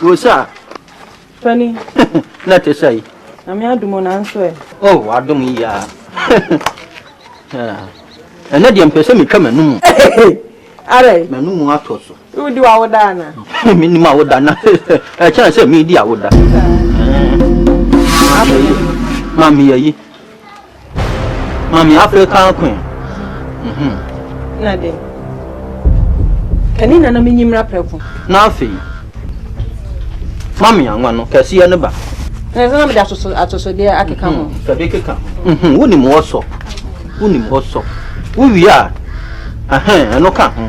Rosa. Fani. Na te sɛ yi. Na me adomo na nso ɛ. Oh, wadom yi a. Ɛnɛ deɛ mpɛ sɛ metwa m'anum. Ara yi. M'anum atɔ so. Wodi w'awoda ana? Menni m'awoda na ɛkyɛn sɛ medi awoda. Mami yɛ yi. Mami African queen. Na de. Kani nana menyi mmra prɛko. Na afei. Mami anwa no kɛseɛ no ba. Na ɛsɛ na mede atosodeɛ akeka ho. Fɛde keka ho. Wonim wɔsɔ. Wonim wɔsɔ. Wowie a ɛno ka ho.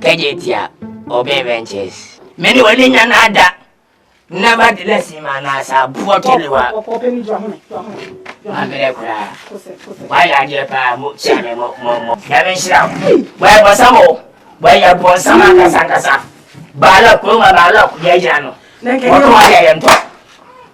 Kɛgye tia Obey Ventures. Me ne w'ani nya na ada. Nevertheless ma na asa buo kelewa. Mabrɛ koraa. Wayɛ adeɛ paa mo kyia me mo mo mo. Nyame nhyira wo. Wɔyɛ bɔnsam o. Wɔyɛ bɔnsam ankasa ankasa. Baalɔk kuroma baalɔk yɛ gyina no. Wɔtɔ ayɛ yɛntɔ.